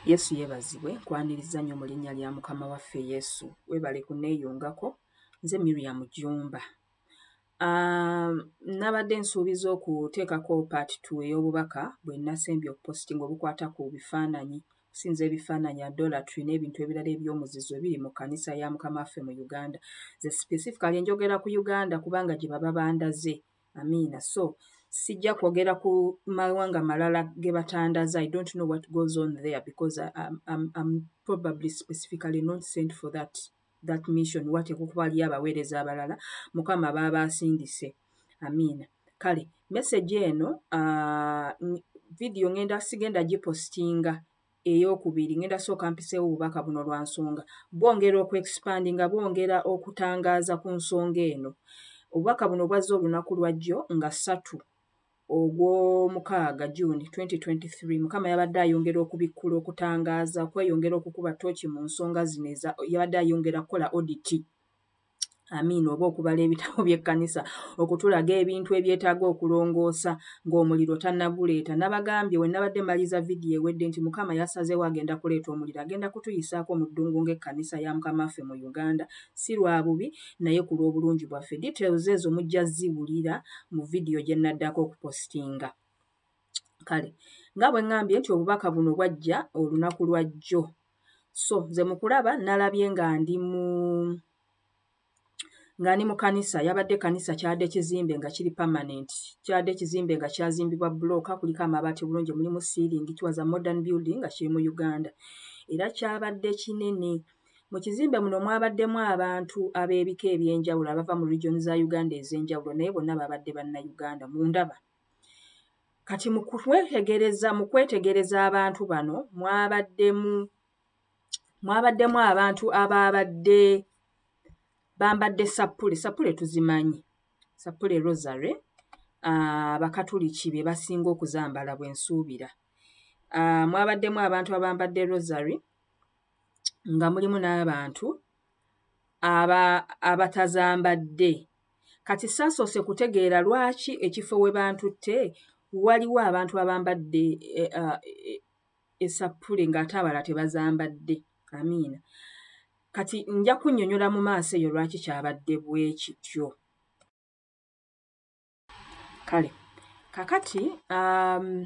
yesu yebazibwe nkwaniriza nnyo mu linnya lya mukama waffe yesu webale kuneeyungako nze miriam jumba um, nabadde nsuubiza okuteekako part t ey'obubaka bwe nasembye okupositinga obukwata ku bifaananyi okusinza ebifaananyi adolatry n'ebintu ebirala eby'omuzizo ebiri mu kkanisa ya mukama waffe mu uganda ze specifically njogera ku uganda kubanga gye baba bandaze amiina so sijja kwogera ku mawanga malala ge batandaza i don't know what goes on there because I'm, I'm, I'm probably specifically not sent for that that mission wateekwa okuba aliyo abaweereza abalala mukama baaba asindise amiina kale meseji eno uh, vidiyo ngenda sigenda gipostinga eyokubiri ngenda sooka mpiseewo obubaka buno lwa nsonga bwongera okuexpandi nga bwongera okutangaaza ku nsonga eno obubaka buno bwazze olunaku lwajjo nga ssatu ogw'omukaaga juni 2023 mukama yabadde ayongera okubikkula okutangaaza okweyongera okukuba tooki mu nsonga zino yabadde ayongera kukola oditi amiina oba okubala ebitabo by'ekkanisa okutulaga ebintu ebyetaaga okulongoosa ng'omuliro tannaguleeta nabagambye we nabadde maliza vidiyo ewedde nti mukama yasazeewo agenda kuleeta omuliro agenda kutuyisaako mu ddungu ng'ekkanisa ya mukama waffe mu uganda si lwa bubi naye ku lw'obulungi bwaffe details ezo mujja ziwulira mu vidiyo gye naddako okupositinga kale nga bwe ŋŋambye nti obubaka buno bwajja olunaku lwa jjo so nze mu kulaba nalabye nga ndi mu nga ndi mu kanisa yabadde kanisa kyadde kizimbe nga kiri permanent kyadde kizimbe nga kyazimbibwa bulooka kuliko amabaati bulungi mulimu siiringi kiwaza modern building nga kiri mu uganda era kyabadde kinene mu kizimbe muno mwabaddemu abantu ab'ebika eby'enjawulo abava mu region za uganda ez'enjawulo naye bonna babadde banna uganda mu ndaba kati mukwetegereza mu kwetegereza abantu bano mwabaddemu mwabaddemu abantu abaabadde bambadde sappule sappule tuzimanyi sappule rosary abakatuliki ah, be basinga okuzambala bwe nsuubira ah, mwabaddemu abantu abambadde rosary nga mulimu n'abantu aba abatazambadde kati saasoose kutegeera lwaki ekifo we bantutte waliwo abantu abambadde eh, ah, eh, esappule ng'ate abala tebazambadde amiina kati nja kunnyonnyola mu maaso eyo lwaki kyabadde bwe kityo kale kakati um,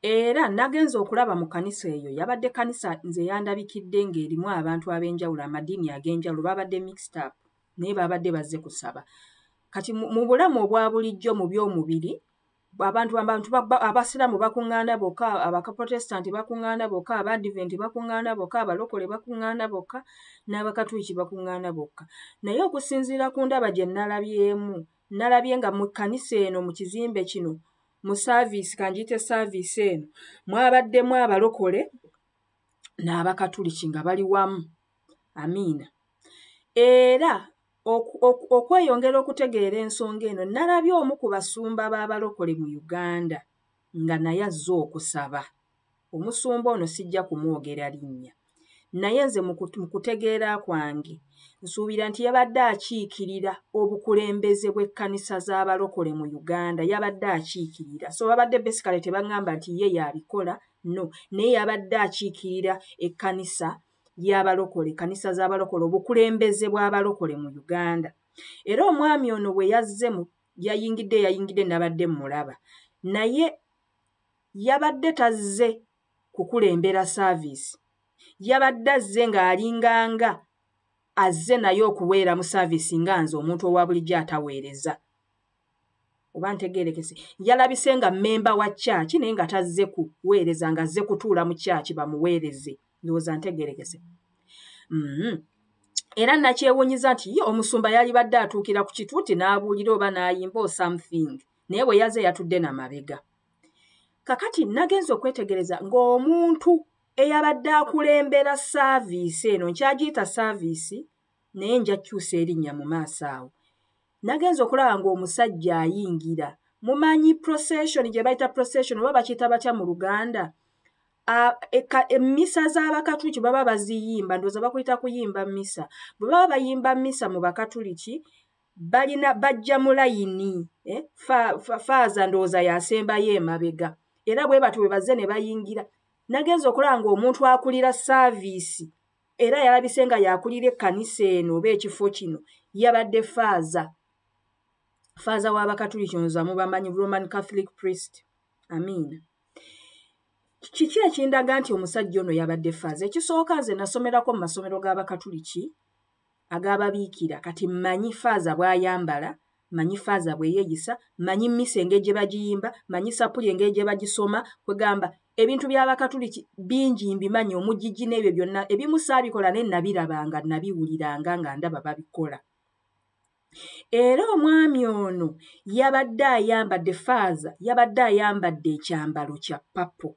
era nagenza okulaba mu kanisa eyo yabadde kanisa nze yandabikidde ng'erimu abantu ab'enjawulo amadiini ag'enjawulo babadde mixed up naye babadde bazze kusaba kati mu bulamu obwa bulijjo mu by'omubiri abantu abantu abasiraamu bakuŋŋaana bokka abakaprotestanti bakuŋŋaana bokka abaadiventi bakuŋŋaana bokka abalokole bakuŋŋaana bokka n'abakatuuki bakuŋŋaana bokka naye okusinziira ku ndaba gye nalabyemu nalabye nga mu kkanisa eno mu kizimbe kino mu saaviisi kanjiyite saaviisi eno mwabaddemu abalokole n'abakatuliki nga bali wamu amiina era okweyongera okutegeera ensonga eno nalabye omu ku basumba b'abalokole mu uganda nga naye azze okusaba omusumba ono sijja kumwogera linnya naye nze mu kutegeera kwange nsuubira nti yabadde akiikirira obukulembeze bw'ekkanisa z'abalokole mu uganda yabadde akiikirira so babadde besikale tebaŋŋamba nti ye yabikola no naye yabadde akiikirira ekkanisa y'abalokole ekkanisa z'abalokole obukulembeze bw'abalokole mu uganda era omwami ono bwe yazze mu yayingidde yayingidde nabadde mulaba naye yabadde tazze kukulembera saaviisi yabadde azze ng'alinganga azze naye okuweera mu saaviisi nga nze omuntu owa bulijjo ataweereza oba ntegerekese yalabise nga memba wa kyaki naye nga tazze kuweereza nga azze kutuula mu kyaki bamuweereze ndowooza ntegerekese mm-hmm. era nakyewunyiza nti ye omusumba yalibadde atuukira ku kitu nti n'abuulira oba n'ayimba o something naye bwe yaze yatudde na mabega kakati nagenza okwetegereza ng'omuntu eyabadde akulembera saaviisi eno nkyagiyita saaviisi naye njakyusa erinnya mu maaso awo Nagenze okulaba ng'omusajja ayingira. Mumanyi procession gye bayita procession oba bakiyita batya mu Luganda? Emmisa e, z'Abakatuliki baba baziyimba, ndowooza bakuyita kuyimba mmisa. Bwe baba bayimba mmisa mu Bakatuliki, balina bajja mu layini, eh, faaza ndowooza yasembayo emabega. Era bwe batyo bwe bazze ne bayingira. Nagenze okulaba ng'omuntu akulira saaviisi era yalabise nga yakulira ekkanisa eno oba ekifo kino yabadde faaza faaza w'abakatuliki oza mubamanyi roman catholic priest amiina kiki ekindaga nti omusajja ono yabadde faaza ekisooka nze nasomerako mu masomero g'abakatuliki agababiikira kati mmanyi faaza bwayambala manyi faaza bweyeyisa manyi mmisa engeri gye bagiyimba manyi sapuli engeri gye bagisoma kwegamba ebintu by'abakatuliki bingi mbimanyi omugigi n'ebyo byonna ebimu saabikola naye nabirabanga nabiwuliranga nga ndaba babikola era omwami ono yabadde ayambadde faaza yabadde ayambadde ekyambalo kya papo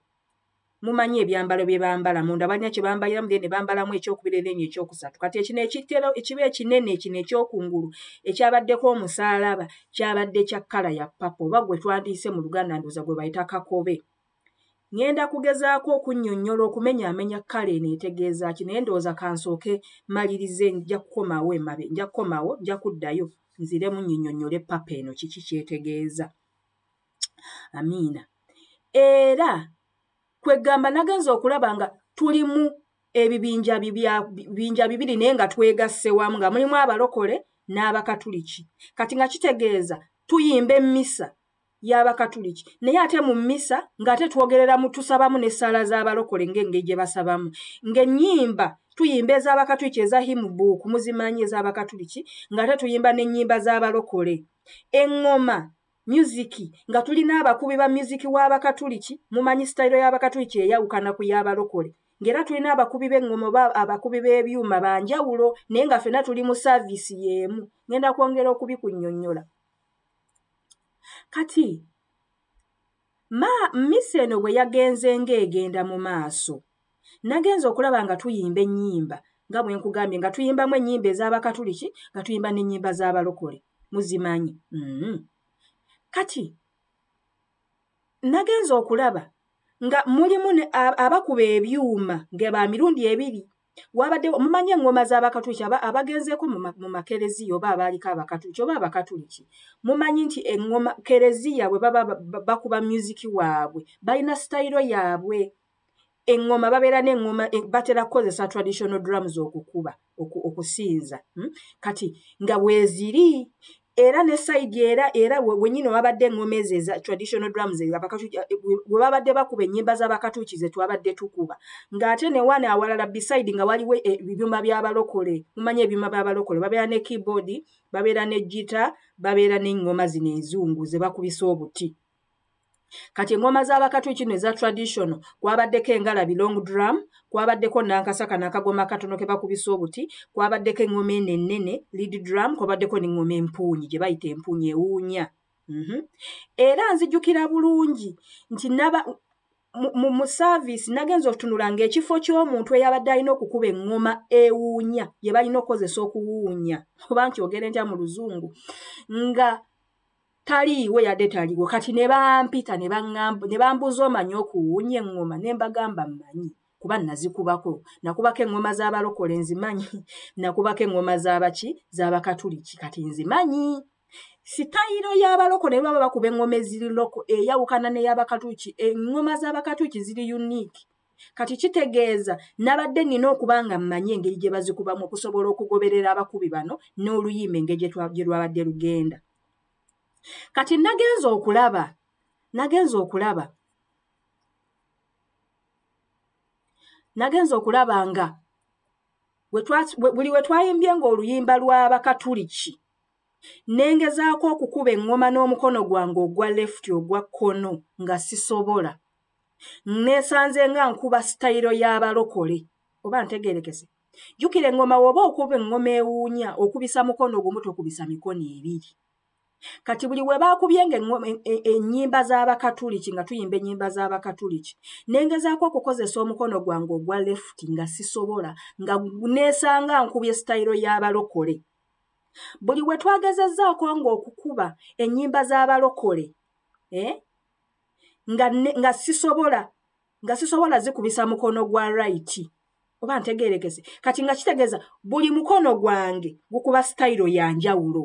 mumanyi ebyambalo bye bambala munda balina kye bambaliramu then ne bambalamu ekyokubiri then ekyokusatu kati ekino ekitero ekiba ekinene ekino ekyokungulu ekyabaddeko omusaalaba kyabadde kya kkala ya papa oba gwe twandiise mu luganda ndoza gwe bayita kakobe ŋŋenda kugezaako okunnyonnyola okumenyaamenya kkala eno etegeeza ki naye ndowooza kansooke malirize nja kukomawo emabe nja kukomawo nja kuddayo nziremu nyinyonnyole papa eno kiki kyetegeeza amiina era kwegamba nagenza okulaba nga tulimu ebibinja bibinja bibiri naye nga twegasse wamu nga mulimu abalokole n'abakatuliki kati nga kitegeeza tuyimba emmisa y'abakatuliki naye ate mu mmisa ng'ate twogereramu tusabamu n'essaala z'abalokole ng'engeri gye basabamu ng'ennyimba tuyimba ez'abakatuliki eza himubuuku muzimanyi ez'abakatuliki ng'ate tuyimba n'ennyimba z'abalokole eŋŋoma myuziki nga tulina abakubi ba myuziki w'abakatuliki mumanyi sitayiro y'abakatuliki eyawukana ku y'abalokole ng'era tulina abakubi b'eŋŋoma oba abakubi b'ebyuma ba njawulo naye nga fena tuli mu saaviisi y'emu ŋŋenda kwongera okubikunnyonnyola kati Ma, mmisa eno bwe yagenze ng'egenda mu maaso, nagenze okulaba nga tuyimba ennyimba nga bwe nkugambye nga tuyimbamu ennyimba ez'abakatuliki nga tuyimba n'ennyimba z'abalokole muzimanyi mm-hmm. kati nagenze okulaba nga mulimu abakuba ebyuma nga ba mirundi ebiri wabadde mumanyi eŋŋoma z'abakatuliki abagenzeeko mu makereziya oba abaaliko abakatuliki oba abakatuliki mumanyi nti eŋŋoma kereziya bwe baba bakuba myuziki waabwe balina sitayiro yaabwe eŋŋoma babeera n'eŋŋoma e, batera kukozesa traditional drums okukuba okusinza hmm? kati nga weeziri era ne side era era wenyini wabadde engoma ezo eza traditional drums we babadde bakuba ennyimba z'abakatuuki ze twabadde tukuba ng'ate ne wana awalala beside nga waliwo e, ebyuma by'abalokole mumanya ebyuma by'abalokole babeera ne keyboard babeera ne gita babeera n'eŋŋoma zino enzungu ze bakubisa obuti kati engoma z'abakatwe kino eza traditional kwabaddeko engalabi long drum kwabaddeko nankasaka nakagoma akatono ke bakubisa obuti kwabaddeko engoma eno ennene lead drum kwabaddeko nengoma empuunyi gye bayita empuunyi ewuunya mhm. era nzijukira bulungi nti naba mu service nagenza okutunula ng'ekifo ky'omuntu eyabadde alina okukuba eŋŋoma ewuunya gye balina okukozesa okuwuunya oba nkyogere ntya mu luzungu nga taliiwo yadde taliwo kati ne bampita ne bambuuza omanyi okuwunya eŋŋoma ne mbagamba mmanyi kuba nazikubako nakubako eŋŋoma z'abalokole nzimanyi nakubako eŋŋoma z'abaki z'abakatuliki kati nzimanyi sitayiro y'abaloko ne baba bakuba eŋŋoma eziri loko eyawukana ney'abakatuliki eŋŋoma z'abakatuliki ziri unique kati kitegeeza nabadde nina okuba nga mmanyi engeri gye bazikubamu okusobola okugoberera abakubi bano n'oluyimba engeri gye lwabadde lugenda kati nagenza okulaba nagenza okulaba nagenza okulaba nga buli we twayimbye ng'oluyimba lw'abakatuliki nengezaako okukuba eŋŋoma n'omukono gwange ogwa lefuti ogwa kkono nga sisobola neesanze nga nkuba sitayiro y'abalokole oba ntegerekese jjukira eŋŋoma woba okuba eŋŋoma ewuunya okubisa mukono gumu tokubisa mikono ebiri kati buli we baakubyenga e, e, ennyimba z'abakatuliki nga tuyimba ennyimba z'abakatuliki ne ngezaako okukozesa omukono gwange ogwa lefuti nga sisobola nga neesanga nkubye sitayiro y'abalokole buli we twagezezzaako ng'okukuba ennyimba z'abalokole eh, nga sisobola nga sisobola zikubisa mukono gwa rayiti oba ntegerekese kati nga kitegeeza buli mukono gwange gukuba sitayiro ya njawulo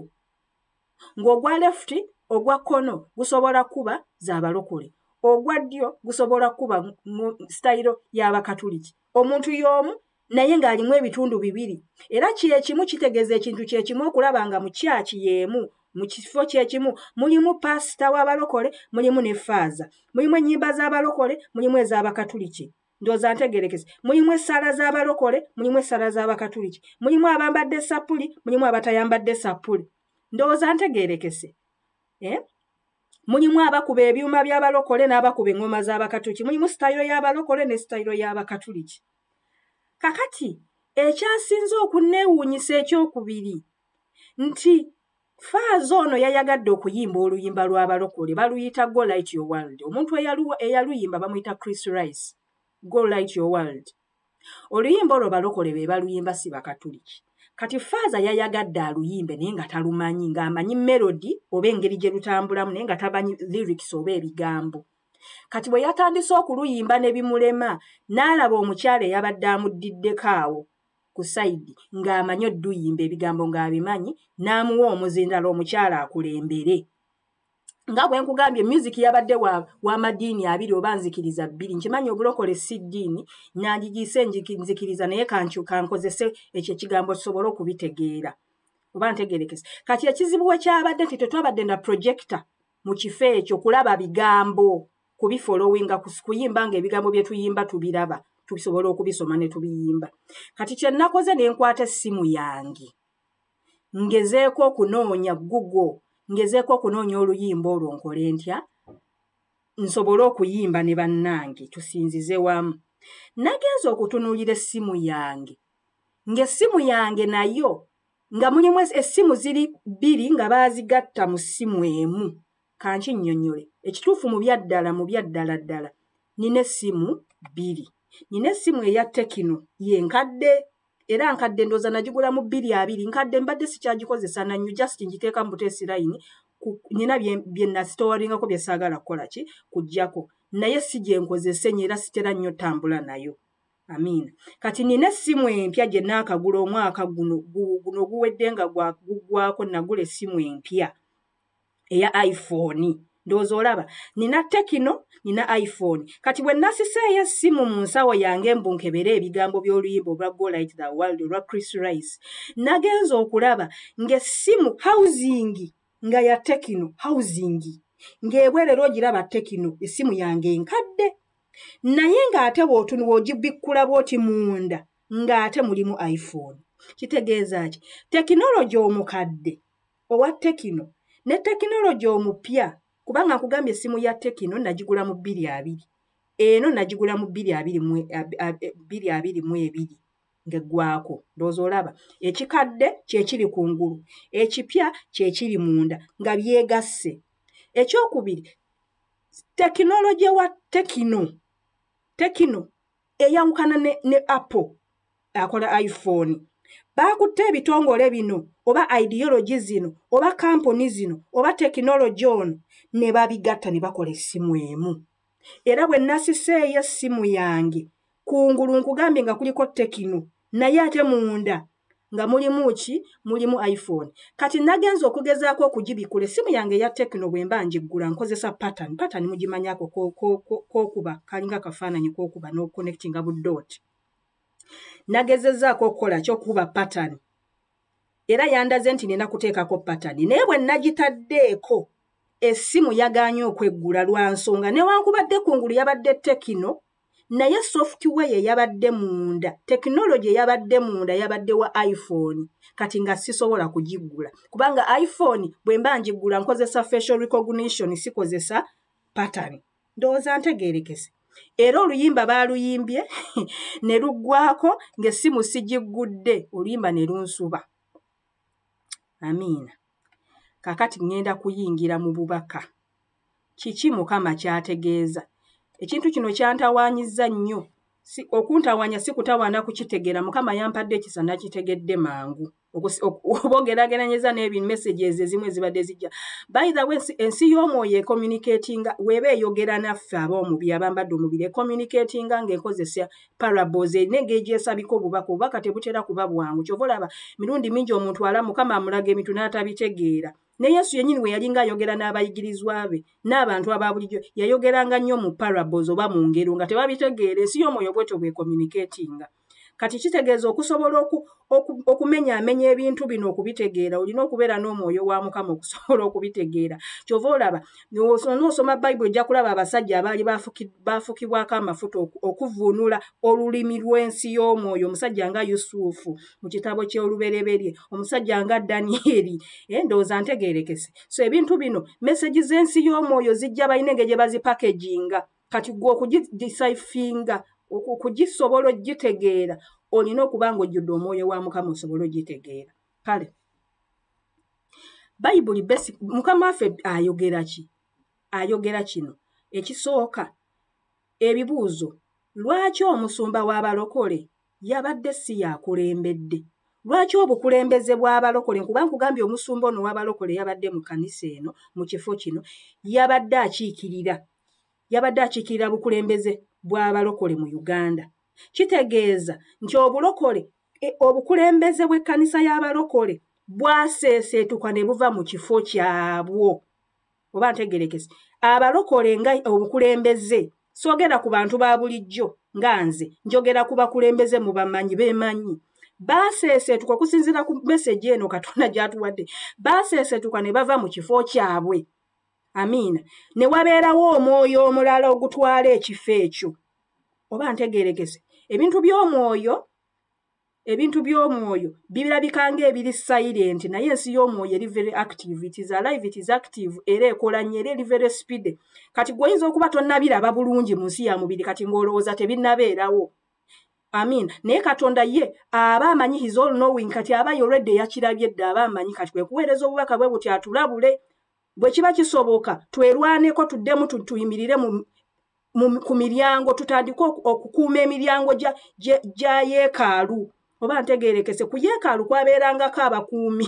ng'ogwa lefuti ogwa kkono gusobola kuba za balokole ogwa ddyo gusobola kuba mu sitayiro y'abakatuliki omuntu y'omu naye ng'alimu ebitundu bibiri era kyekimu kitegeeza ekintu kyekimu okulaba nga mu kyaki y'emu mu kifo kyekimu mulimu paasita w'abalokole mulimu ne faaza mulimu ennyimba z'abalokole mulimu ez'abakatuliki ndoza ntegerekese mulimu essaala z'abalokole mulimu essaala z'abakatuliki mulimu abambadde esappuli mulimu abatayambadde esappuli ndowooza ntegerekese eh? mulimu abakuba ebyuma by'abalokole n'abakuba eŋŋoma z'abakatuliki mulimu sitayiro y'abalokole ne sitayiro y'abakatuliki kakati ekyasinze okunneewuunyisa ekyokubiri nti faaza ono yayagadde okuyimba oluyimba lw'abalokole baluyita go light your world omuntu eyaluyimba bamuyita chris rice go light your world oluyimba olwo balokole be baluyimba si bakatuliki kati faaza yayagadde aluyimbe naye nga talumanyi ng'amanyi melodi oba engeri gye lutambulamu naye nga tamanyi lyrics oba ebigambo kati bwe yatandise okuluyimba ne bimulema n'alaba omukyala eyabadde amuddiddeko awo ku sayidi ng'amanyi odduyimba ebigambo ng'abimanyi n'amuwa omuzindalo omukyala akulembere nga bwe nkugambye myuziki yabadde w'amadiini wa abiri oba nzikiriza bbiri nkimanyi obulokole si ddiini nandigiise nzikiriza naye kankozese ekyo ekigambo kisobole okubitegeera oba ntegerekese kati ekizibu we kyabadde nti tetwabadde na projekita mu kifo ekyo kulaba bigambo kubifolowinga kuyimba nga ebigambo byetuyimba tubiraba tusobola okubisoma netubiyimba kati kyenakoze nenkwata essimu yange ngezeeko okunoonya gugo ngezeeko okunoonya oluyimba olwo nkole ntya nsobole okuyimba ne bannange tusinzize wamu nagenza okutunuulira essimu yange ng'essimu yange nayo nga mulimu essimu ziri bbiri nga baazigatta mu ssimu emu kanki nnyonnyole ekituufu mu byaddala mu byaddala ddala nina essimu bbiri nina essimu eya tekino ye nkadde era nkadde ndooza nagigula mu bbiri abiri nkadde mbadde sikyagikozesa nannyo just ngiteeka mu buteesi layini nina bye nasitowalingako bye saagala kukola ki kuggyako naye si gye nkozesa enyo era sitera nnyo tambula nayo amiina kati nina essimu empya gye naakagula omwaka guno guno guwedde nga gugwako nagula essimu empya eya iphone ndowooza olaba nina tekino nina iphone kati bwe nasisa eyo essimu mu nsawo yange mbu nkebere ebigambo by'oluyimba olwa golite the world olwa chris rice nagenza okulaba ng'essimu housing nga ya tekino housing ng'ebwerera ogiraba tekino essimu yange enkadde naye ng'ate wootuni wogibikkula bwoti munda ng'ate mulimu iphone kitegeeza ki tekinologi omukadde owa tekino ne tekinologi omupya kubanga nkugambye essimu ya tekino nagigula mu bbiri abiri eno nagigula mu bbiri abiri mu bbiri abiri mu ebiri ng'eggwako ndowooza olaba ekikadde kyekiri ku ngulu ekipya kyekiri munda nga byegasse ekyokubiri tekinologi wa tekino tekino eyawukana ne, ne apple akola iphone baakutte ebitongole bino oba ideologi zino oba kampuni zino oba tekinologi ono ne babigatta ne bakola essimu emu era bwe nasiseeyo essimu yange kungulu nkugambye nga kuliko tekino naye ate munda nga mulimu ki mulimu iphone kati nagenza okugezaako okugibikula essimu yange eya tekino bwe mba ngiggula nkozesa patan patan mugimanyako kokuba kalinga akafaananyi kokuba n'okuconnectinga buddooti nagezezaako okukola kyokuba patan era yandaze nti nina kuteekako patan naye bwe nagitaddeeko essimu yaganye okweggula lwa nsonga newankubadde kungulu yabadde tekino naye software yeyabadde munda tekinologi eyabadde munda yabadde wa iphone kati nga sisobola kugiggula kubanga iphone bwe mba ngiggula nkozesa facial recognition sikozesa pattern ndowooza ntegeerekese era oluyimba baaluyimbye ne luggwako ng'essimu sigiggudde oluyimba ne lunsuba amiina kakati ŋŋenda kuyingira mu bubaka kiki mukama kyategeeza ekintu kino kyantawaanyizza nnyo si okuntawaanya si kutawaana kukitegeera mukama yampadde ekisa nakitegedde mangu oba ogerageranyeza n'ebimessages ezimu ezibadde zijja by the way ensi y'omwoyo ecommunicatinga weeba eyogera naffe aba omubiri abambadde omubiri ecommunicatinga ng'ekozesa parables erina engegyesabika obubaka obubaka tebutera kuba bwangu kyova olaba mirundi mingi omuntu ala mukama amulaga ebintu n'atabitegeera ne yesu yennyini bwe yalinga ayogera n'abayigirizwa be n'abantu aba bulijjo yayogeranga nnyo mu parabos oba mu ngero nga tebabitegeera ensi y'omwoyo bwetyo bwekomuniketinga kati kitegeeza okusobola okumenya amenya ebintu bino okubitegeera olina okubeera n'omwoyo wa mukama okusobola okubitegeera kyova olaba noosoma bayibuli ojja kulaba abasajja abaali baafukibwako amafuta okuvuunula olulimi lw'ensi y'omwoyo omusajja nga yusufu mu kitabo ky'olubereberye omusajja nga danieri eh, ndowooza ntegeerekese so ebintu bino mesagi z'ensi y'omwoyo zijja balina engeri gye bazipakeginga kati gwe okugidisaifinga okugisobola okugitegeera olina okuba nga ojjudde omwoyo wa mukama osobole okugitegeera kale bayibuli besi mukama waffe ayogera ki ayogera kino ekisooka ebibuuzo lwaki omusumba w'abalokole yabadde si yakulembedde lwaki obukulembeze bw'abalokole nkuba nkugambye omusumba ono w'abalokole yabadde mu kanisa eno mu kifo kino yabadde akiikirira yabadde akiikirira bukulembeze bw'abalokole mu uganda kitegeeza nti obulokole e, obukulembeze bw'ekkanisa y'abalokole bwaseeseetuka ne buva mu kifo kyabwo oba ntegerekese abalokole nga obukulembeze sogera ku bantu ba bulijjo nga nze njogera ku bakulembeze mu bamanyi bemanyi baaseeseetuka okusinziira ku meseji eno katonda gyatuwadde baaseeseetuka ne bava mu kifo kyabwe amiina ne wabeerawo omwoyo omulala ogutwala ekifo ekyo oba ntegerekese ebintu by'omwoyo ebintu by'omwoyo birabika ng'ebiri silent naye ensi y'omwoyo eri very active it is alive it is active era ekola nnyo era eri very speed kati gweoyinza okuba tonnabiraba bulungi mu nsi ya mubiri kati ng'olowooza tebinnabeerawo amin naye katonda ye aba amanyi his all knowing kati aba yoredi eyakirabye dde aba amanyi kati kwe kuweereza obubaka bwe buti atulabule bwe kiba kisoboka twerwaneko tuddemu tuyimirire mu ku miryango tutandike okukuuma emiryango gya yeekaalu oba ntegeerekese ku yeekaalu kwabeerangako abakuumi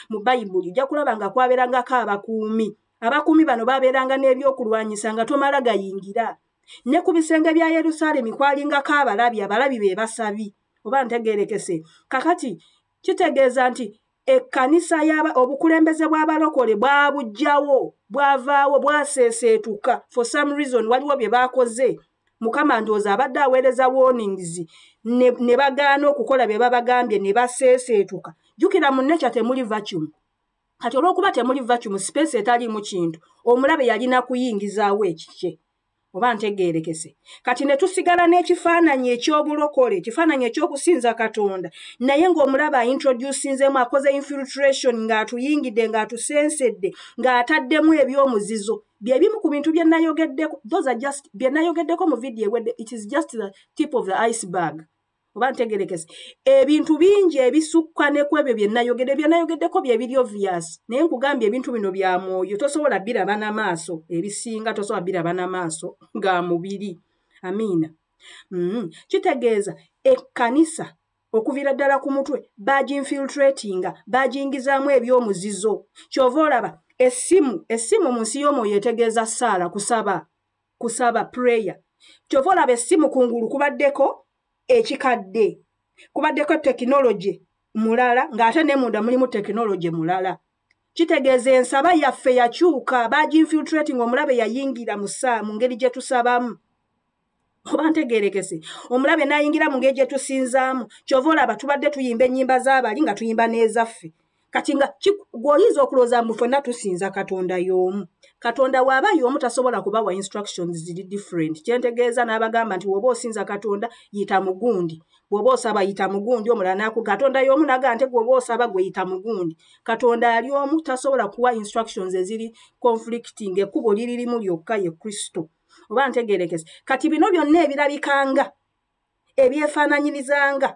mu bayibuli ojja kulaba nga kwabeerangako abakuumi abakuumi bano baabeeranga n'ebyokulwanyisa nga tomala gayingira ne ku bisenge bya yerusaalemi kwalingako abalabi abalabi be basabi oba ntegeerekese kakati kitegeeza nti ekkanisa yaba obukulembeze bw'abalokole bwabujjawo bwavaawo bwaseeseetuka for some reason waliwo bye baakoze mukama ndowooza abadde aweereza warnings ne bagaana okukola bye babagambye ne baseeseetuka jjukira mu nekya temuli vacuum kati olw'okuba temuli vacuum space etaliimu kintu omulabe yalina kuyingizaawo ekikye oba ntegeerekese kati ne tusigala n'ekifaananyi eky'obulokole ekifaananyi eky'okusinza katonda naye ng'omulaba aintroducinzemu akoze infiltration ng'atuyingidde ng'atusensedde ng'ataddemu eby'omuzizo bye bimu ku bintu bye nayogeddeko those are just bye nayogeddeko mu vidiyo ewedde it is just the tip of the iceberg oba ntegerekese ebintu bingi ebisukka ne kwebyo bye nayogedde bye nayogeddeko bye biri obvious naye nkugambye ebintu bino bya mwoyo tosobola biraba na maaso ebisinga tosobola biraba na maaso ga mubiri amiina mm. kitegeeza ekkanisa okuviira ddala ku mutwe baginfiltratinga bagingizaamu ebyomuzizo kyova olaba essimu essimu mu nsi y'omwoyo etegeeza saala kusaba kusaba prayer kyova olaba essimu ku ngulu kubaddeko ekikadde kubaddeko tekinologi mulala ng'ate ne munda mulimu tekinologi mulala kitegeeza ensaba yaffe yakyuka baginfiltrati nga omulabe yayingira musaa mu ngeri gye tusabamu oba ntegerekese omulabe nayingira mu ngeri gye tusinzaamu kyova olaba tubadde tuyimba ennyimba z'abali nga tuyimba n'ezaffe kati nga gweoyinza okulowooza mbu fenna tusinza katonda y'omu katonda waaba y'omu tasobola kubawa instructions ziri different kyentegeeza n'abagamba nti woba osinza katonda yita mugundi bwoba osaba yita mugundi omulala naku katonda y'omu naga nte gwoba osaba gwe yita mugundi katonda ali omu tasobola kuwa instructions eziri conflicting ekkubo liririmu lyokka ye kristo oba ntegerekese kati bino byonna ebirabikanga ebyefaananyirizanga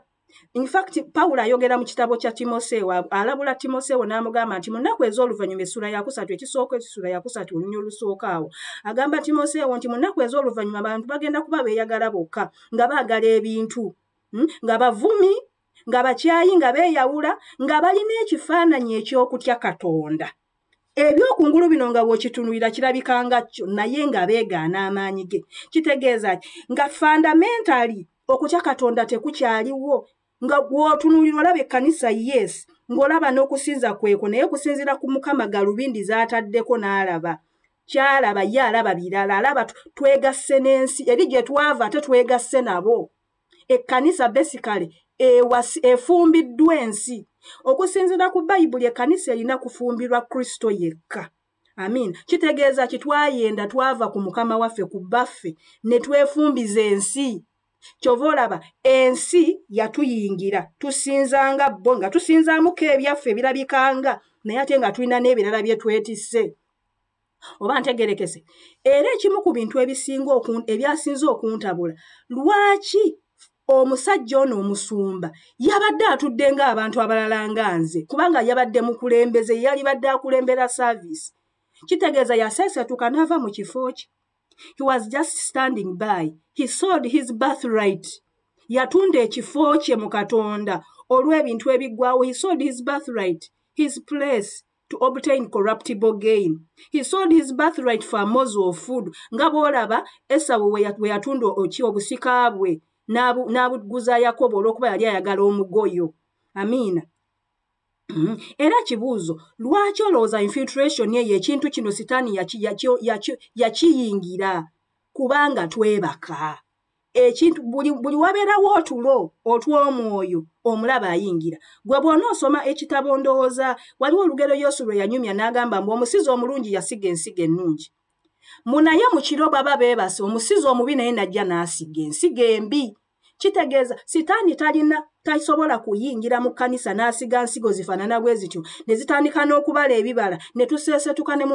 infact pawulo ayogera mu kitabo kya timoseewo alabula timoseewo n'amugamba nti mu nnaku ez'oluvannyuma essula yakusatu ekisooka ekisula yakusatu olunya olusooka awo agamba timoseewo nti mu nnaku ez'oluvannyuma abantu bagenda kuba beeyagala bokka nga baagala ebintu hmm, nga bavumi nga bakyayi nga beeyawula nga balina ekifaananyi eky'okutya katonda ebyokungulu bino nga bwokitunulira kirabika nga kyo naye nga beegaana amaanyi ge kitegeeza ki nga fundamentali okutya katonda tekukyaliwo nga gwotunulira olaba ekkanisa yes ng'olaba n'okusinza kweko naye kusinzira ku mukama galubindi zaataddeko n'alaba kyalaba ye alaba birala alaba twegasse n'ensi eri gye twava ate twegasse nabo ekkanisa besikale efumbiddwa ensi okusinzira ku bayibuli ekkanisa erina kufumbirwa kristo yekka amin kitegeeza ki twayenda twava ku mukama waffe ku baffe ne twefumbiza ensi kyova olaba ensi yatuyingira tusinzanga bo nga tusinzamuko ebyaffe ebirabikanga naye ate nga tulina n'ebirala bye twetisse oba ntegerekese era ekimu ku bintu ebisinga ebyasinze okuntabula lwaki omusajja ono omusumba yabadde atudde ng'abantu abalala nga nze kubanga yabadde mukulembeze yalibadde akulembera service kitegeeza yaseesetuka n'ava mu kifo kye he was just standing by he sold his birth right yatunda ekifo kye mu katonda olw'ebintu ebiggwawo he sold his birth right his place to obtain corruptible gain he sold his birthright for mos of food nga bwolaba esawo weyatunda oki obusika bwe n'abuguza yakobo olw'okuba yali ayagala omugoyo amiina mm-hmm. era kibuuzo lwaki olowooza infiltration eyo ekintu kino sitaani yakiyingira kubanga twebaka ekintu buli, buli wabeerawo otulo otw'omwoyo omulaba ayingira gwe bwona osoma ekitabo ndowooza waliwo olugero yesu lwe yanyumya n'agamba mbu omusizi omulungi yasiga ensiga ennungi munaye mu kiro baba beebase omusizi omubi naye najja n'asiga ensiga embi kitegeeza sitaani talina tasobola kuyingira mu kkanisa n'asiga nsigo zifaanana bwe zityo ne zitandika n'okubala ebibala ne tuseesetuka ne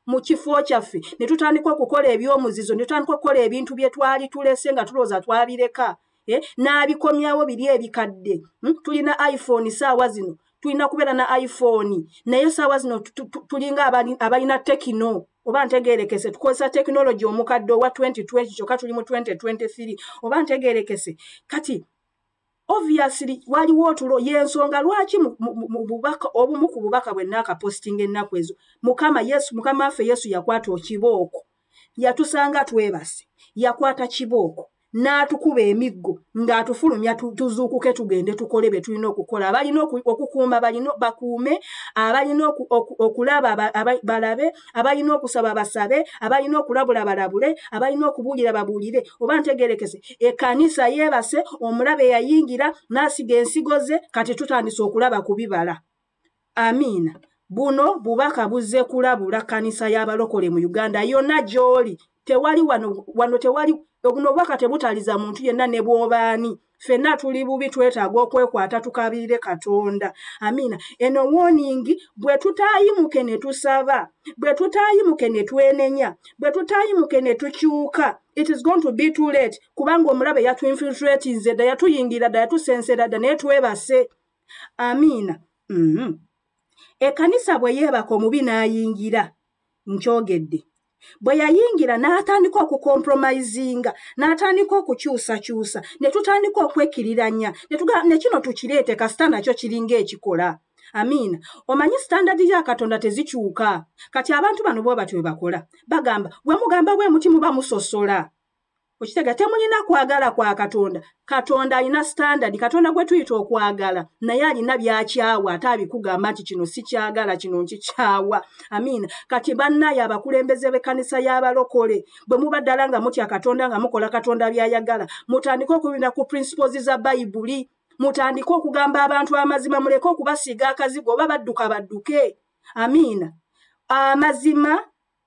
mu kifo kyaffe ne tutandika okukola ebyomuzizo ne tutandika okukola ebintu bye twali tulese nga tulowooza twabireka eh, n'abikomyawo biri ebikadde hmm, tulina iphone saawa zino tulina kubeera na iphone naye saawa zino tulinga abalina tekino oba ntegerekese tukozesa tekinologi omukadde owa 2020 kyokka tuli mu 2023 oba ntegerekese kati obviously waliwo otulo yensonga lwaki mububaka obumu ku bubaka bwe naakapositinga ennaku ezo mukama yesu mukama waffe yesu yakwata okibooko yatusanga twebase yakwata kibooko n'atukuba emiggo ng'atufulumya tuzuukuke tugende tukole bye tulina okukola abalina okukuuma balina bakuume abalina okulaba balabe abalina okusaba basabe abalina okulabula balabule abalina okubuulira babuulire oba ntegerekese ekanisa yeebase omulabe yayingira n'asiga ensigo ze kati tutandise okulaba ku bibala amiina buno bubaka buzze kulabula kanisa y'abalokole mu uganda yonna gy'oli tewali wano wano tewali obuno bwaka tebutaliza muntu yenna ne bwobaani fenna tuli bubi twetaaga okwekwata tukabiire katonda amiina eno woningi bwe tutayimuke ne tusaba bwe tutayimuke ne twenenya bwe tutayimuke ne tukyuka it is going to be too late kubanga omulabe yatuinfiltratinze dda yatuyingira dda yatusensera dda naye twebase amiina mm -hmm. ekanisa bwe yeebaka omubi n'ayingira nkyogedde bwe yayingira n'atandika okukompromisinga n'atandika okukyusakyusa ne tutandika okwekiriranya ne kino tukireete kasita nakyo kiringa ekikola amiina omanyi sitandadi ya katonda tezikyuka kati abantu bano bwe batyo bwe bakola bagamba bwe mugamba bwe muti muba musosola okitega temulina kwagala kwa katonda katonda alina standard katonda gwe tuyita okwagala naye alina byakyawa ate abikugamba nti kino sikyagala kino nkikyawa amiina kati bannaye abakulembeze b'ekkanisa y'abalokole bwe muba ddala nga mutya katonda nga mukola katonda by'ayagala mutandike okubina ku principles za bayibuli mutandike okugamba abantu amazima muleke okubasiiga akazigo oba badduka badduke amiina amazima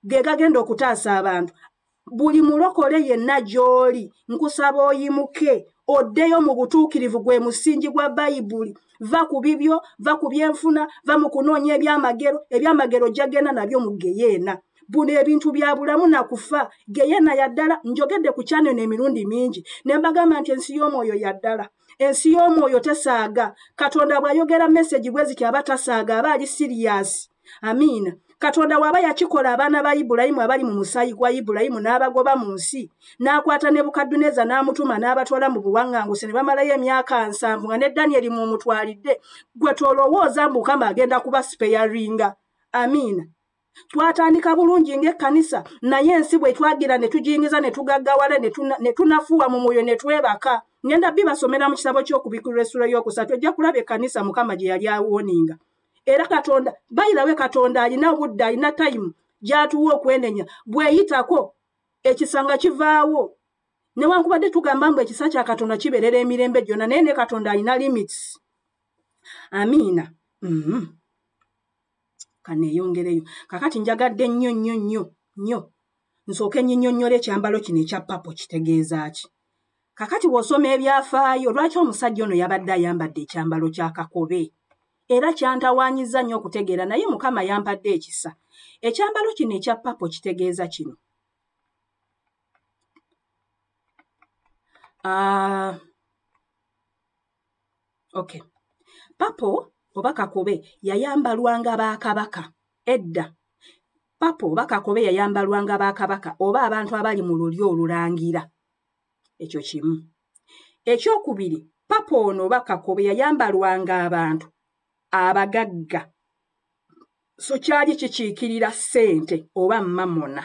ge gagenda okutaasa abantu buli mulokole yenna gy'oli nkusaba oyimuke oddeyo mu butuukirivu gwe musingi gwa bayibuli va ku bibyo va ku byenfuna va mu kunoonya ebyamagero ebyamagero gyagenda nabyo mu geyeena buno ebintu bya bulamu na kufa geyeena yaddala njogedde ku kyaneno emirundi mingi ne mbagamba nti ensi y'omwoyo yaddala ensi y'omwoyo tesaaga katonda bw'ayogera mesegi bwe ziti aba tasaaga aba ali siriyasi amiina katonda waaba yakikola abaana ba ibulayimu abali mu musaayi gwa ibulayimu n'abagoba mu nsi n'akwata ne bukadduneza n'amutuma n'abatwala mu buwaŋŋanguse ne bamalayo emyaka nsanvu nga ne danyeri mu mutwalidde gwe tolowooza mukama agenda kuba sipeyaringa amiina twatandika bulungi ng'ekkanisa naye ensi bwe twagira ne tujingiza ne tugaggawala ne tunafuwa mu mwoyo ne twebaka ngenda bibasomera mu kitabo ky'okubikula essula y'okusatu ojja kulaba ekkanisa mukama gye yali awoninga era katonda bayirawe katonda alina obudde alina tayimu gyatuwa okwenenya bweyitako ekisanga kivaawo newankubadde tugamba mbu ekisa kya katonda kiberera emirembe gyonna naye ne katonda alina limits amiina mm -hmm. kaneeyongereyo kakati njagadde nnyo nnyo nnyo nnyo nsooke nyinyonnyole ekyambalo kino ekya papo kitegeeza ki Kakati bw'osoma ebyafaayo, lwaki omusajja ono yabadde ayambadde ekyambalo kya kakobe? Era kyantawaanyizza nnyo okutegeera naye Mukama yampadde ekisa. Ekyambalo kino ekya papo kitegeeza kino. Uh, okay. Papo oba kakobe yayambalwanga ba kabaka edda. Papo oba kakobe yayambalwanga ba kabaka oba abantu abali mu lulyo olulangira. ekyo kimu ekyokubiri papa ono oba kakobe yayambalwanga abantu abagagga so kyali kikiikirira ssente oba mamona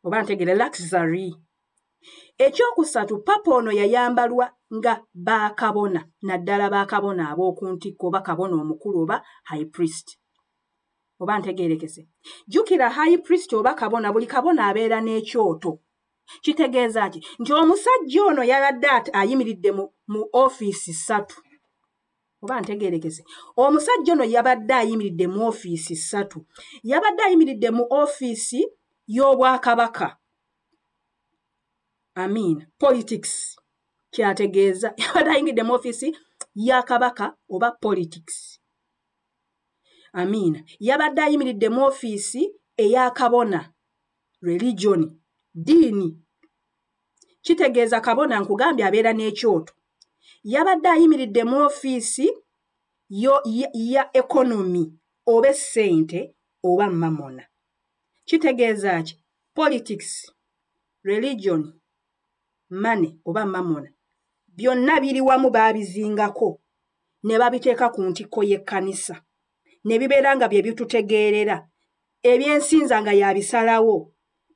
oba ntegere luxury ekyokusatu papa ono yayambalwa nga bakabona naddala bakabona ab'oku ntikko oba kabona omukulu oba high priest oba ntegeerekese jjukira high priest oba kabona buli kabona abeera n'ekyoto kitegeeza ki nti omusajja ono yabadde ati ayimiridde mu ofiisi ssatu oba ntegerekese omusajja ono yabadde ayimiridde mu ofiisi ssatu yabadde ayimiridde mu ofiisi y'obwakabaka amiina politics kyategeeza yabadde ayimiridde mu ofiisi ya kabaka oba politics amiina yabadde ayimiridde mu ofiisi eyakabona religion diini kitegeeza kabona nkugambye abeera n'ekyoto yabadde ayimiridde mu ofiisi yo ya ekonomi oba essente oba mamona kitegeeza ki politics religion mane oba mamona byonna biri wamu baabizingako ne babiteeka ku ntikko y'ekkanisa ne bibeera nga bye bitutegeerera ebyensinza nga yabisalawo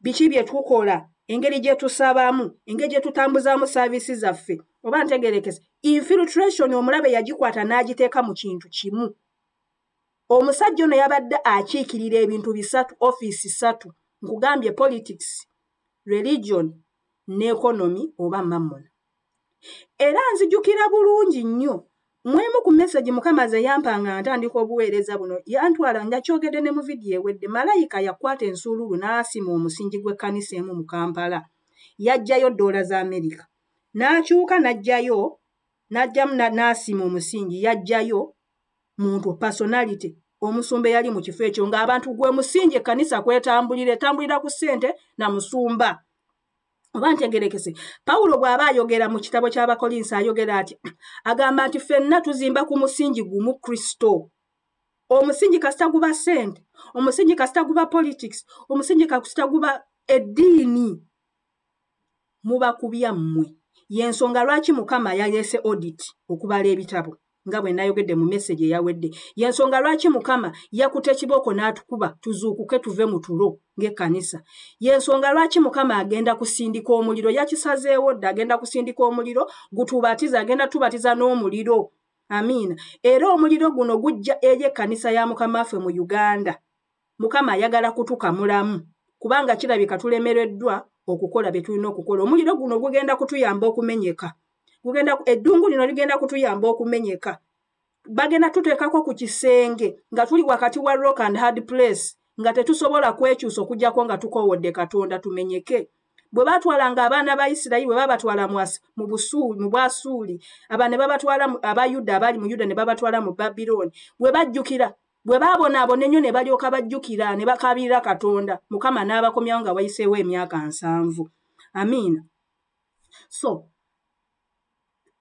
biki bye tukola engeri gye tusabamu engeri gye tutambuzaamu saaviisi zaffe oba ntegerekese infiltration omulabe yagikwata n'agiteeka mu kintu kimu omusajja ono yabadde akiikirira ebintu bisatu ofiisi ssatu nkugambye politics religion ne economy oba mamona era nzijukira bulungi nnyo mwemu ku meseji mukama ze yampa nga ntandika obuweereza buno yantwala nga kyogedde ne mu vidiyo ewedde malayika yakwata ensuululu n'asima omusingi gw'ekkanisa emu mu kampala yajjayo ddoola za amerika n'akyuka n'ajjayo n'ajjamu n'asima omusingi yajjayo muntu personality omusumba eyali mu kifo ekyo ng'abantu gwe musingi ekkanisa kwetambulira etambulira ku ssente na musumba oba ntegerekese pawulo bw'aba ayogera mu kitabo ky'abakolinsi ayogera ati agamba nti fenna tuzimba ku musingi gumu kristo omusingi kasita guba sente omusingi kasita guba politics omusingi kasita guba eddiini muba kubya mmwe y'ensonga lwaki mukama yaleese odit okubala ebitabo nga bwe nayogedde mu meseji eyawedde yensonga lwaki mukama yakuta ekibooko n'atukuba tuzuukuke tuve mu tulo ng'ekkanisa yensonga lwaki mukama agenda kusindika omuliro yakisazeewo dda agenda kusindika omuliro gutubatiza agenda tubatiza n'omuliro amiina era omuliro guno gujja eri ekkanisa ya mukama ffe mu uganda mukama ayagala kutukamulamu kubanga kirabika tulemereddwa okukola bye tulina okukola omuliro guno gugenda kutuyamba okumenyeka gugenda eddungu lino ligenda kutuyamba okumenyeka bagenda tuteekako ku kisenge nga tuli wakati wa rock and hard place nga tetusobola kwekyusa okugyako nga tukowodde katonda tumenyeke bwe baatwalanga abaana ba isirayiri bwe babatwala mu busuuli mu bwasuuli aba ne babatwala aba yuda abaali mu yuda ne babatwala mu babilooni bwe bajjukira bwe baabonaabona ennyo ne balyoka bajjukira ne bakaabirira katonda mukama n'abakomyawo nga wayiseewo emyaka nsanvu amiina so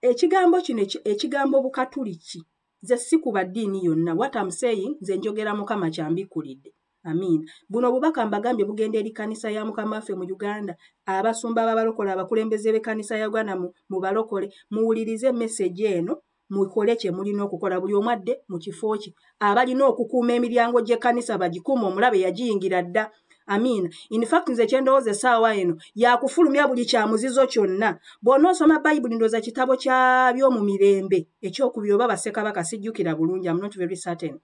ekigambo kino ekigambo bukatuliki nze si ku baddiini yonna wat am saying nze njogera mukama kyambikkulidde amiina buno obubaka mbagambye bugenda eri kanisa ya mukama waffe mu uganda abasumba babalokole abakulembeze b'ekanisa ya uganda mu balokole muwulirize message eno mukole kye mulina okukola buli omu adde mu kifo kye abalina okukuuma emiryango gy'ekkanisa bagikuuma omulabe yagiyingira dda amiina infact nze kyendowooza essaawa eno yakufulumya buli kyamuzizo kyonna bwona osoma bayibuli ndooza kitabo kyabyomu mirembe ekyokubiri oba basekabaka sijjukira bulungi am not very certain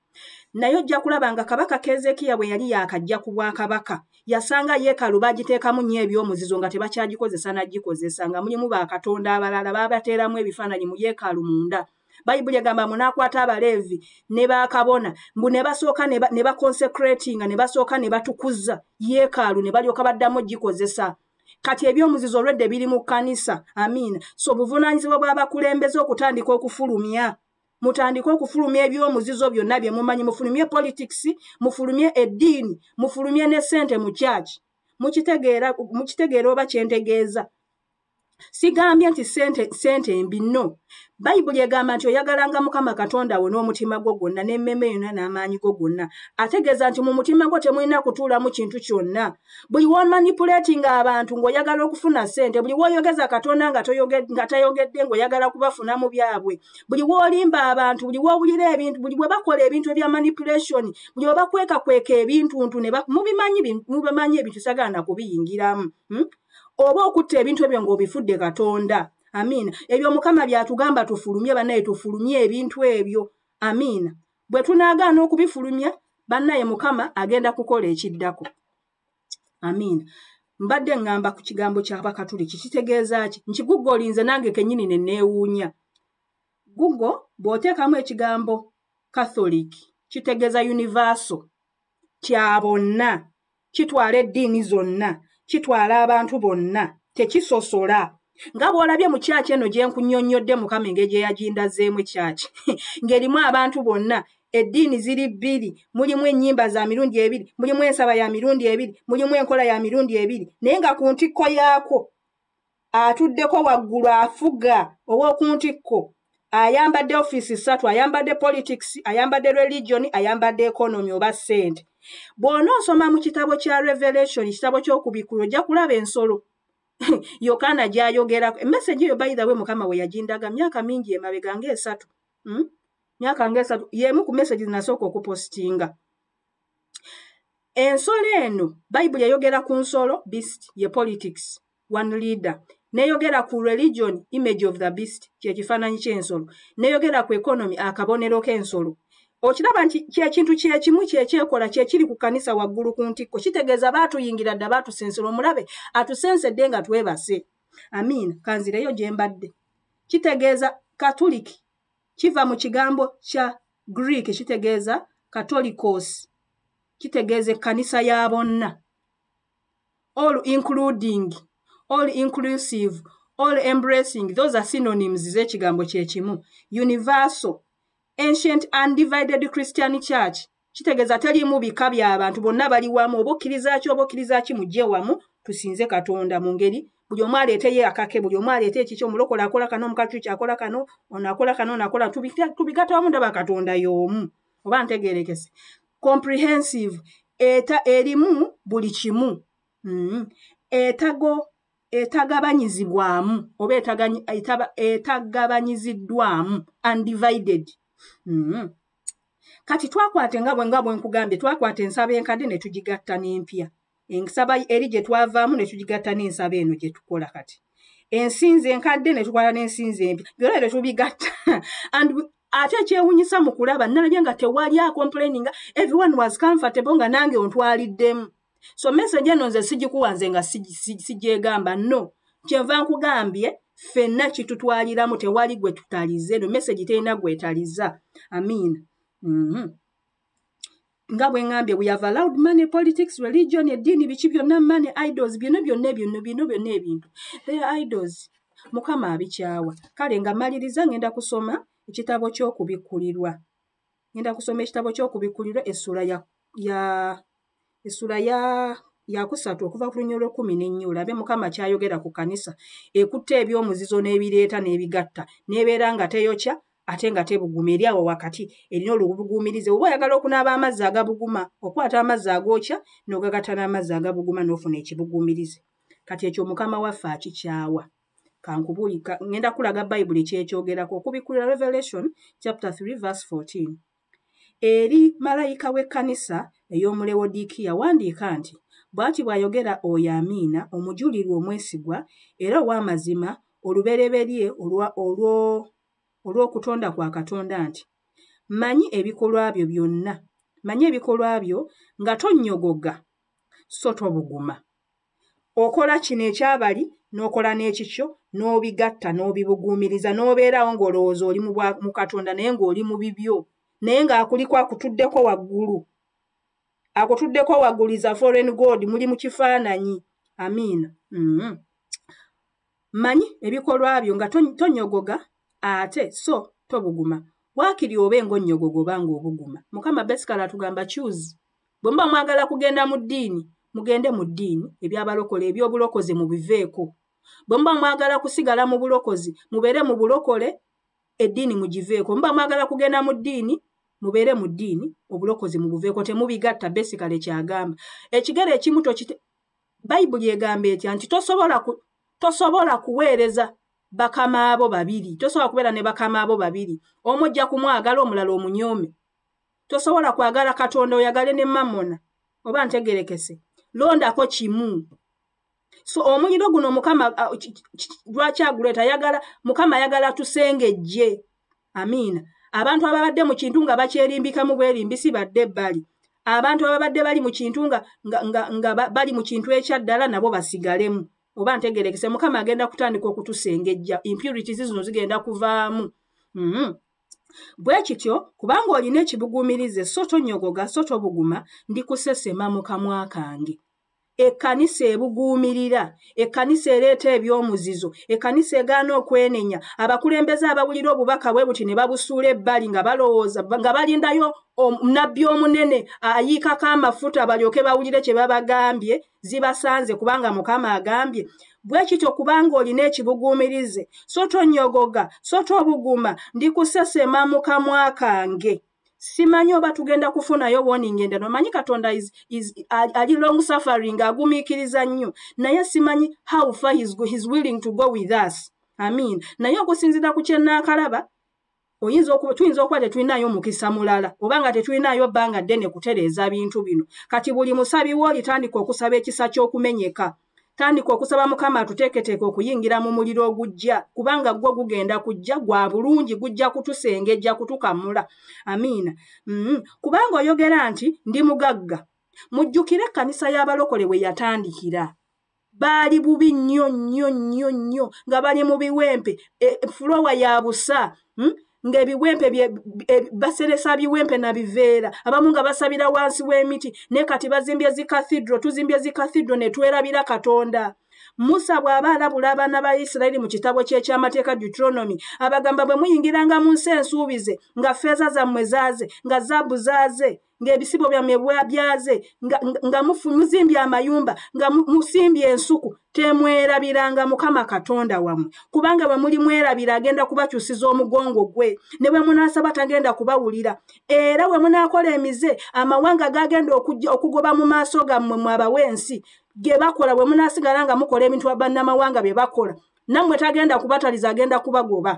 naye ojja kulaba nga kabaka keezeekiya bwe yali yaakajja ku bwakabaka yasanga yeekalu bagiteekamu nnyo eby'omuzizo nga tebakyagikozesa nagikozesa nga mulimu bakatonda abalala baabateeramu ebifaananyi mu yeekalu munda bayibuli egamba munaakwata abaleevi ne bakabona mbu ne basooka ne baconsecratinga ne basooka ne batukuza yeekaalu ne balyoka baddamu gikozesa kati ebyomuzizo olwedde biri mu kkanisa amiina so buvunaanyizibwa bw'abakulembeze okutandika okufulumya mutandike okufulumya ebyomuzizo byonna bye mumanyi mufulumye politics mufulumye eddiini mufulumye ne ssente mu kyaki mukitegeera oba kyentegeeza sigambye nti ssente mbi no bayibuli egamba nti oyagalanga mukama katonda wo n'omutima gwo gwonna n'emmeeme yonna n'amaanyi go gonna ategeeza nti mu mutima gwo temulina kutuulamu kintu kyonna buli womanipuletinga abantu ng'oyagala okufuna ssente buli woyogeza katonda nga tayogedde ng'oyagala kubafuna mu byabwe buli wolimba abantu buli wowulira ebintu buli bwe bakola ebintu ebya manipulation buli bwe bakwekakweka ebintuntu mubimanyi mubimanyi ebintu sagana kubiyingiramu hmm? oba okutta ebintu ebyo ng'obifudde katonda amiina ebyo mukama byatugamba tufulumye banaye tufulumye ebintu ebyo amiina bwe tunaagaana okubifulumya bannaye mukama agenda kukola ekiddako amiina mbadde ŋŋamba ku kigambo ky'abakatuliki kitegeeza ki nti guggo olinze nange kennyini ne neewuunya guggo bw'oteekamu ekigambo catholic kitegeeza universal kya bonna kitwala eddiini zonna kitwala abantu bonna tekisosola nga bw'olabye mu kyaki eno gye nkunyonnyodde mukama engeri gye yagindazeemu ekyaki ng'erimu abantu bonna eddiini ziri bbiri mulimu ennyimba za mirundi ebiri mulimu ensaba ya mirundi ebiri mulimu enkola ya mirundi ebiri naye nga ku ntikko yaakwo atuddeko waggulu afuga ow'oku ntikko ayambadde ofiisi ssatu ayambadde politics ayambadde religion ayambadde economy oba ssente bw'ona osoma mu kitabo kya revelation ekitabo ky'okubikkulu ojja kulaba ensolo yokaana gyayogerako emesegi eyo bayidawe mukama we yagindaga myaka mingi emabega ngaesatu hmm? myaka ngaesatu y'emu ku mesegi zinasooka okupositinga ensolo eno bayibuli eyogera ku nsolo beast ye politics one leader neyogera ku religion image of the beast kyekifaananyi ky'ensolo neyogera ku economy akabonero k'ensolo okiraba nti kyekintu kyekimu kyekyekola kyekiri ku kanisa waggulu ku ntikko kitegeeza baatuyingira dda baatusensera omulabe atusensedde nga twebase amiina kanzireyo gye mbadde kitegeeza katuliki kiva mu kigambo kya greek kitegeeza katolikos kitegeeza ekkanisa ya bonna all including all inclusive all embracing those are synonyms z'ekigambo kye kimu universal ancient undivided christian church kitegeeza teriimu bika bya bantu bonna bali wamu oba okkiriza ki oba okkiriza ki mujje wamu tusinze katonda mu ngeri buli omu aleeteyo akake buli omu aleete ekiki omulokola akola kano omukakyuki akola kano ono akola kano ono akola tubigata wamu ndaba katonda y'omu oba ntegeerekese comprehensive eta erimu buli kimu mm-hmm. etago etagabanyizibwamu oba etagabanyiziddwamu undivided mm-hmm. kati twakwata engabwe nga bwenkugambye twakwata ensaba enkadde ne tugigatta n'empya ensaba eri gye twavaamu ne tugigatta n'ensaba eno gye tukola kati ensinza enkadde ne tukwala n'ensinza empi byona ebyo tubigatta and ate ekyewunyisa mu kulaba nalabye nga tewali akomplaininga everyone was comfortable nga nange ontwaliddemu so message eno nze sigikuwa nze nga sigyegamba no kyenva nkugambye ffenna kitutwaliramu tewali gwe tutalize no message terina gwetaliza amiina mm -hmm. nga bwe ŋambye we have allowed money politics religion eddiini biki byonna money idols byonna byonna ebyonno byonna byonna ebintu they are idols mukama abikyawa kale nga maliriza ngenda kusoma ekitabo ky'okubikkulirwa ngenda kusoma ekitabo ky'okubikkulirwa essula ya ya essula ya yakusatu okuva ku lunya olwekumi n'ennya olabe mukama kyayogera ku kanisa ekutte ebyomuzizo n'ebireeta n'ebigatta n'ebeera nga teyokya ate nga tebuguma eri awo wakati erina olubuguumirize oba oyagala okunaaba amazzi agabuguma okwata amazzi agookya n'ogagatta n'amazzi agabuguma n'ofuna ekibuguumirize kati ekyo mukama waffe akikyawa kankubuulika ngenda kulaga bayibuli kyekyogerako okubikkulira revelation chapter 3 verse 14 eri malayika w'ekkanisa ey'omulewodiikiya wandiika nti bw'ati bw'ayogera oyo amiina omujulirwa omwesigwa era ow'amazima olubereberye olw'okutonda kwa katonda nti manyi ebikolwa byo byonna manyi ebikolwa byo nga tonnyogoga so tobuguma okola kino ekyabali n'okola n'ekikyo n'obigatta n'obibuguumiriza n'obeerawo ng'olowooza oli mu katonda naye ng'oli mu bibyo naye ng'akuliko akutuddeko waggulu akutuddeko waggulu is a foreign god muli mu kifaananyi amiina mm -hmm. Manyi ebikolwa byo nga tonyogoga ate so tobuguma. Wakiri obe ng'onnyogoga oba ng'obuguma. Mukama besikala atugamba choose. Bwe muba mwagala kugenda mu ddiini, mugende mu ddiini, eby'abalokole, eby'obulokozi mubiveeko. Bwe muba mwagala kusigala mu bulokozi, mubeere mu bulokole, eddiini mugiveeko. Muba mwagala kugenda mu ddiini, mubeere mu ddiini, obulokozi mubuveeko. Temubigatta, besikale kyagamba. Ekigere ekimu tokite... bayibuli egamba etya nti tosobola ku, tosobola kuweereza bakama abo babiri tosobola kubeera ne bakama abo babiri omu ojja kumwagala omulala omunyoome tosobola kwagala katonda oyagale ne mamona oba ntegerekese londako kimu so omuliro guno mukama lwaki aguleeta yagala mukama ayagala tusengejje amiina abantu ababadde mu kintu nga bakyerimbikamu bwerimbisi badde ebbali abantu ababadde bali mu kintu nga, nga, nga, nga bali mu kintu ekyaddala nabo basigalemu oba ntegerekese mukama agenda kutandika okutusengejja impurities zino zigenda kuvaamu mm -hmm. bwe kityo kubanga olina ekibuguumirize so tonyogoga so tobuguma ndi kusesema mu kamwa kange ekkanisa ebuguumirira ekkanisa ereeta eby'omuzizo ekkanisa egaana okwenenya abakulembeze abawulira obubaka bwe buti ne babusuula ebbali nga balowooza nga balindayo nabbi omunene ayiikako amafuta balyoke bawulire kye babagambye zibasanze kubanga mukama agambye bwe kityo kubanga olina ekibuguumirize so tonyogoga so tobuguma ndikusesema mu kamwa kange simanyi oba tugenda kufunayo warning enda nomanyi katonda is, is, ali long suffering agumiikiriza nnyo naye simanyi how far he's, he's willing to go with us amin naye okusinzira ku kyenaakalaba oyinza okuba tuyinza okuba tetulinayo mukisa mulala oba nga tetulinayo bbanga ddene kutereeza bintu bino kati buli musabi wo olitandika okusaba ekisa ky'okumenyeka tandika okusaba mukama atuteeketeeke okuyingira mu muliro ogujja kubanga gwo gugenda kujja gwa bulungi gujja kutusengejja kutukamula amiina mm. kubanga oyogera nti ndi mugagga mujjukire ekkanisa y'abalokole we yatandikira baali bubi nnyo nnyo nnyo nnyo nga bali mu biwempe e, fulowa ya busa mm. ng'ebiwempe baseresa biwempe na biveera abamu nga basabira wansi w'emiti ne kati bazimbye zi cathedral tuzimbye zi cathedral ne twerabira katonda musa bw'aba alabula abaana ba isirayiri mu kitabo ky'ekyamateeka deuteronomy abagamba bwe muyingiranga mu nsi ensuubize nga feeza zammwe zaaze nga zaabu zaaze ng'ebisibo byammwe bwabyaze nga muzimbye amayumba nga musimbye ensuku temwerabiranga mukama katonda wammwe kubanga bwe muli mwerabira agenda kubakyusiza omugongo gwe ne bwe munaasaba tagenda kubawulira era bwe munaakola emize amawanga gagenda okujja okugoba mu maaso gammwe mwabawa ensi ge bakola bwe munaasigala nga mukola ebintu bannamawanga bye bakola nammwe tagenda kubataliza agenda kubagoba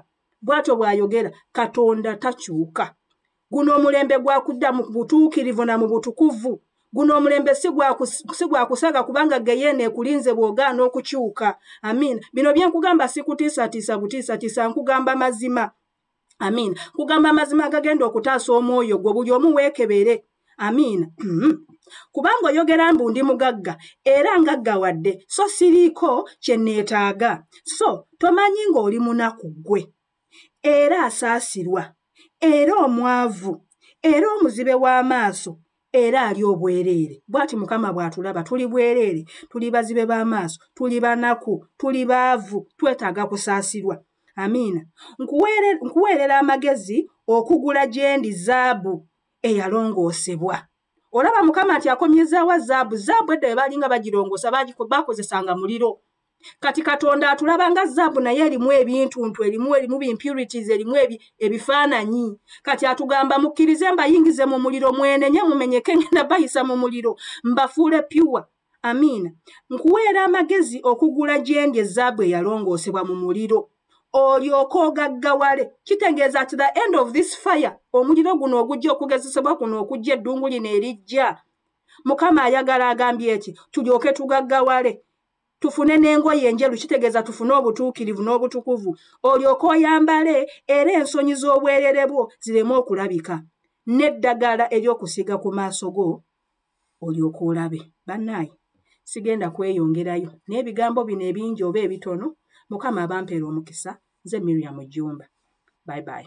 bw'atyo bw'ayogera katonda takyuka guno omulembe gwakudda mu butuukirivu na mu butukuvu guno omulembe si gwa kusaga kubanga geyeena ekulinze bw'ogaana okukyuka amiina bino bye nkugamba sikutiisatiisa butiisatiisa nkugamba mazima amiina nkugamba amazima agagenda okutaasa omwoyo gwo buli omu weekebere amiina mm-hmm. kubanga oyogera mbu ndi mugagga era ngagga wadde so siriiko kye nneetaaga so tomanyi ng'oli munaku ggwe era asaasirwa era omwavu era omuzibe w'amaaso era ali obwereere bwati mukama bw'atulaba tuli bwereere tuli bazibe b'amaaso tuli banaku tuli baavu twetaaga kusaasirwa amiina nkuweerera amagezi okugula gyendi zaabu eyalongoosebwa olaba mukama nti akomyezaawa zaabu zaabu edda we baalinga bagirongoosa bakozesanga muliro kati katonda atulaba nga zaabu naye erimu ebintuntu erimu erimu bimpurities erimu ebifaananyi kati atugamba mukkirize mbayingize mu muliro mwenenye mumenyeke ngenda bayisa mu muliro mbafuule pyuwa amiina nkuweera amagezi okugula gyendi ezaabu eyalongoosebwa mu muliro olyoka ogaggawale kitegeeza at the end of this fire omuliro guno ogujja okugezesebwa kuno okujja eddungu lino erijja mukama ayagala agambye eki tulyoke tugaggawale tufune n'engoye enjeru kitegeeza tufune obutuukirivu n'obutukuvu olyoka oyambale era ensonyi z'obwerere bwo zireme okulabika n'eddagala ery'okusiiga ku maaso go olyoka olabe bannaayi sigenda kweyongerayo n'ebigambo bino ebingi oba ebitono mukama abampera omukisa nze miriam jjumba bye bye